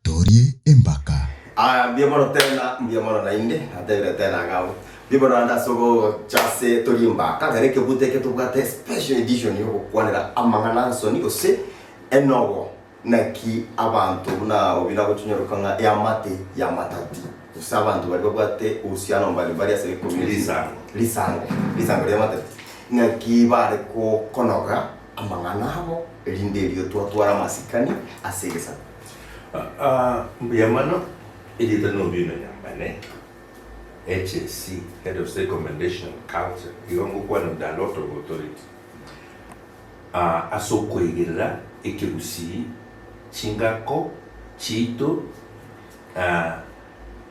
Torie embaka. Aa, mbuya mono tena, mbuya mono naende, natebire tena ng'a mbu- mbuya mono naende ase ogocha ase Torie Embaka, ekero ekebuto eke tobwate special edition ya ogokwanera amang'ana 'nsoni gose enobo. Naki abanto buna abo buna gochonyorekwa ng'a eamate y'amatati, gose abanto baria babwate ohusiano mbali mbali ase ecommunity, Risango. risango, risango ri'amatati, naki bare gokonoga amang'ana abo, erinde erio twatware amasikani ase egesaku. Aa, mbuya mono, erieta na Owino Nyambane, HAC, Head of State Commendation, Culture, igo ngokwana Undalo Authority. aa ase okoigerera ekegusii chingako chiaito aa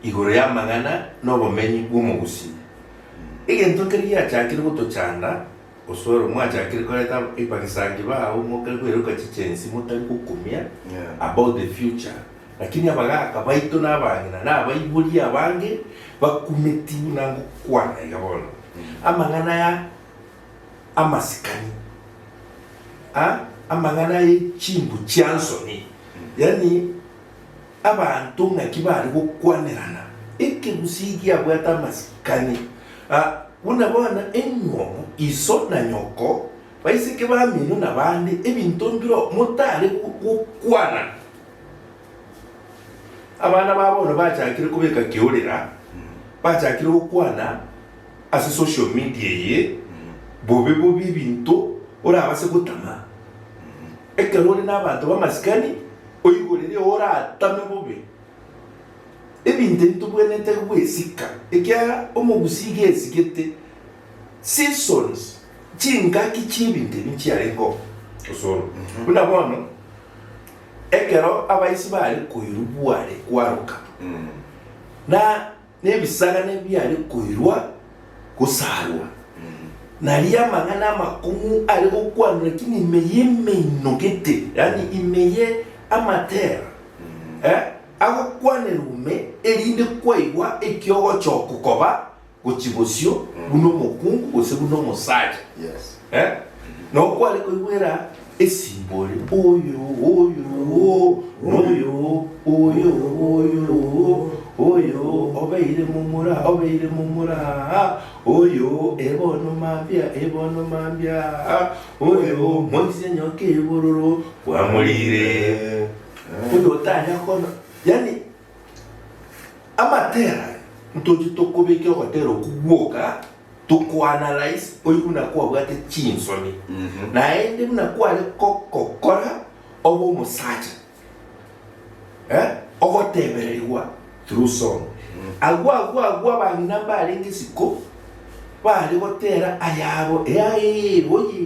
igoro y'amang'ana n'obomenyi bw'omogusii. Egento nkeri giachakire gotochanda, gose ore mwachakire koreta epakisangi bao mokare koiroka chichensii motari gokumia about the future. Lakini abagaka baito nabang'ina nabaiborie abange bakumeti buna ngokwana iga bono. Amang'ana aya. amasikani a amang'ana aye chimbu chia nsoni, yaani abanto ng'aki bare gokwanerana ekegusii giabwate amasikani a buna bono eng'omu, iso na nyoko, baiseke bamino na bande, ebinto mbireo motare gokwana. Abana ba bono bachakire kobeka keorera, bachakire gokwana ase social media eye bobe bobe ebinto orabase gotama. Ekero ore nabanto bamasikani oigwe riria oratame bobe ebinto ebi tobwenerete gwesika ekiagera omogusi iga esigete seasons chingaki chiebinto ebi nchiarenge oo osoro buna bono. Ekero abaisi baare koirwa bware kwaroka, na nebisagane biare koirwa gosaarwa, na aria amang'ana amakong'u are gokwanwa ki nime y'emeino-gete, yaani ime ye amatera, eh, agokwanerwa ime, erinde kwaigwa ekiogochoko koba Gochia bosio buna omokungu gose buna omosacha, eh, na okware koigwera esimbore oyo oyo oo, na oyo oyo oyo oo, oyo obeire momura obeire momura aa, oyo ebono mambia ebono mambia aa, oyo moise nyoka ebororo kwamorire, oyo otanya kona, yaani Amatera aya ntoche tokobeke ogotera okwo gwoka tokoanalyse oigwe buna kwabwate chinsoni naende buna kware gokokora obe omosacha eh ogotebererigwa through song. Agwo agwo agwo abang'ina mbarenge isiko bare gotera ayabo eaeeee oyee.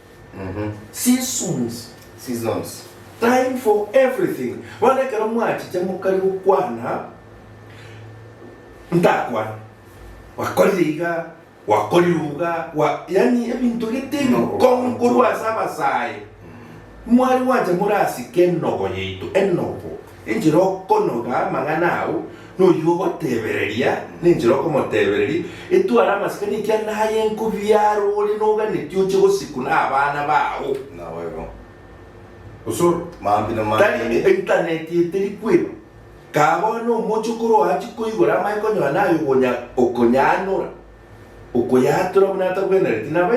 Seasons, seasons, time for everything, bono ekero mwachiche mokari gokwana, ntakwane, gwakorire iga, gwakorire iga, gwa, yaani ebinto gete ebikong'u korwa ase abasae, mwari gwancha morasike enobo yaito, enobo. Enchera okonoga amang'ana ao noyio ogotebereria, nenchera okomotebereria, Etware amasikani ekiagera aye enkobia aro ore noganetie oche gosikuna abana bao. Naboigo. Osoro, maambia na Tari maambia. intaneti eteri kweba. Kaa bono omochokoro oachia koigora amaye konyora naye okonya, okonyanora. okoyaatora buna atagwenereti nabo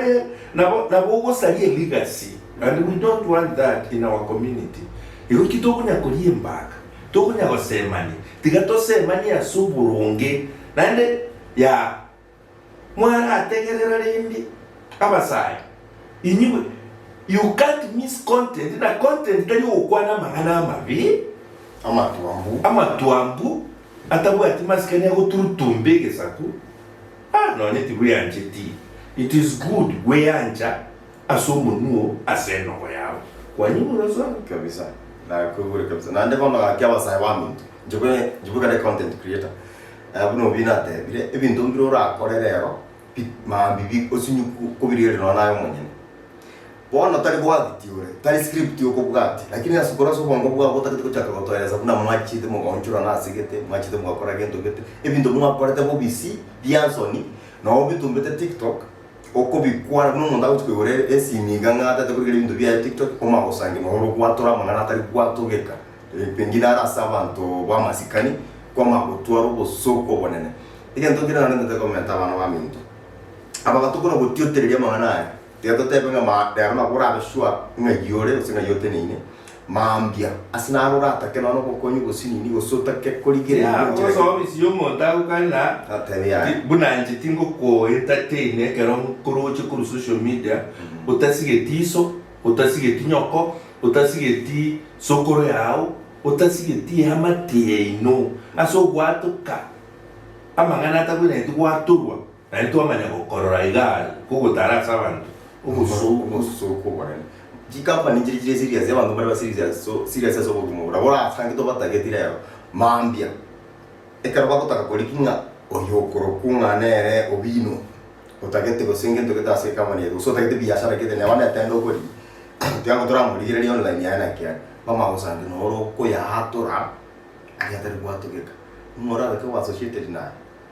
nabo nabo ogosaria legacy and we don't want that in our community igo ki tokonya koria embaka tokonya gosemani tiga tosemani ase oboronge naende ya mwarategerera rende abasae inywe you can't miss content na content tari ogokwana amang'ana amabe amatwambu amatwambu. Atabwati masikani agoturutumba egesaku, ah, nonya tibweancheti. It is good gweancha ase omonuo ase enogo yao. Kwanyumora sana. Kabisa nakoigure kabisa naende bono gaki abasae baminto inche bwe inche bwe kare content creator eh buna obi natebire ebinto mbire orakore rero bi mambibi osinywe kobirigereria nonye naye omonyene. Bono tari bwagiti ore, tari script okobwati, lakini ase okora ase obongo bwabo otagete gochaka gotoeresa buna mwachiete mogaonchorana ase gete, mwachiete mogakora gento gete, ebinto mwakorete bobisi bia nsoni, na obitumbete tiktok, okobikwana buna omonto agochi koigora esimi iga ng'a tagete korigera ebinto biaye tiktok, omanye gosangia nonya ore gwatora amang'ana atari gwatogeka, pengine are ase abanto bwamasikani, kwamanya gotwara obosooku obonene. Egento kere narentete komenta abana baminto, aba batokora gotiotereria amang'ana aya. Tiga toteebe ng'a ma rero nabwo orabe sure ng'ai ore gose ng'ai oteneine mambia, ase naro oratake nonya obokonyi bosio nini gose otake korigereria Yea, enchera ogosoa eye. omisio omonto agokane ng'a Natebe yaye. ti- buna inche tingokoentertaina ekero nkoroche korwa social media otasigeti iso, otasigeti nyoko, otasigeti sokoro yao, otasigeti eamate yaino ase ogwatoka amang'ana atakoinanetie gwatorwa. Naende twamanya gokorora iga are kogotara ase abanto obosooku obonene. Chikampani chiria chire serious, abanto mbare ba serious serious ase obogima bore, orasange tobatageti rero mambia ekero bagotaka koria ki ng'a oyo okorokwo ng'a nere obino otagete gose ngento egete ase ekampani yaito gose otagete biashara egete neba ne tenda okoria tiga ng'a toramorigereria online yaye naki are kwamanya gosange noro okoyatura aria atari gwatugeka ng'a orabe ko o associated naye.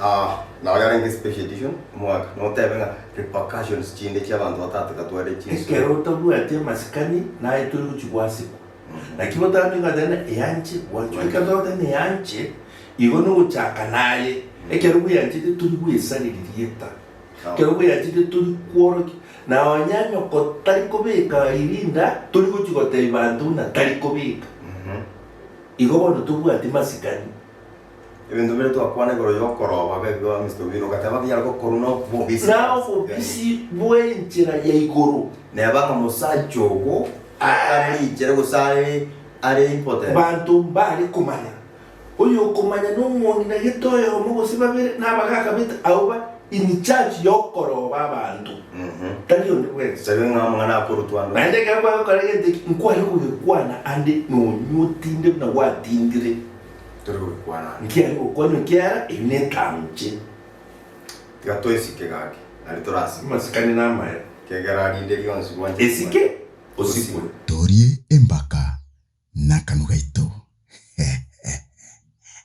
Ah, nao yarenge special edition omwaka, notebe ng'a repercussions chinde chia abanto batateka tware chinso. Ekero otabwati amasikani naye tori gochia gwasikwa. Naki botambe ng'a tena eanche gwachwa. Ekero tore tena eanche, igo nogochaka naye. Ekero bweanchete tori gwesareri rieta. Ekero bweanchete tori kworokia. Na onye nyoko tari kobeka irinda, tori gochia gotebi banto buna tari kobeka. Igo bono tobwati masikani. Ebinto bire twakwana igoro y'okorooba gebibe ase Mr. Owino, ogateba ng'a binyare gokorwa na obobisi na ase obobisi Uganda. bw'enchera ya igoro. Neba ng'a mosacha ogo atari richera gose are are impotent. Banto mbare komanya. Oyokomanya nomoni na gete oyomo gose babere na abagaaka bete abwo ba in charge y'okorooba abanto, tari onde bwensi. Tari ng'a amang'ana akorutwa ande. Naende ekero kwagokora egento eki, nkware kogekwana ande nonyuo tinde buna gwatindire. tore goikwana ande. Nki'aria gokwanwa ekiagera ebi netanche. Tiga toesike gaki, nari torasike. Masikani namayo. Ekiagera rinde rionsi gwancha Esike osikwe. Torie embaka nakanwa gaito.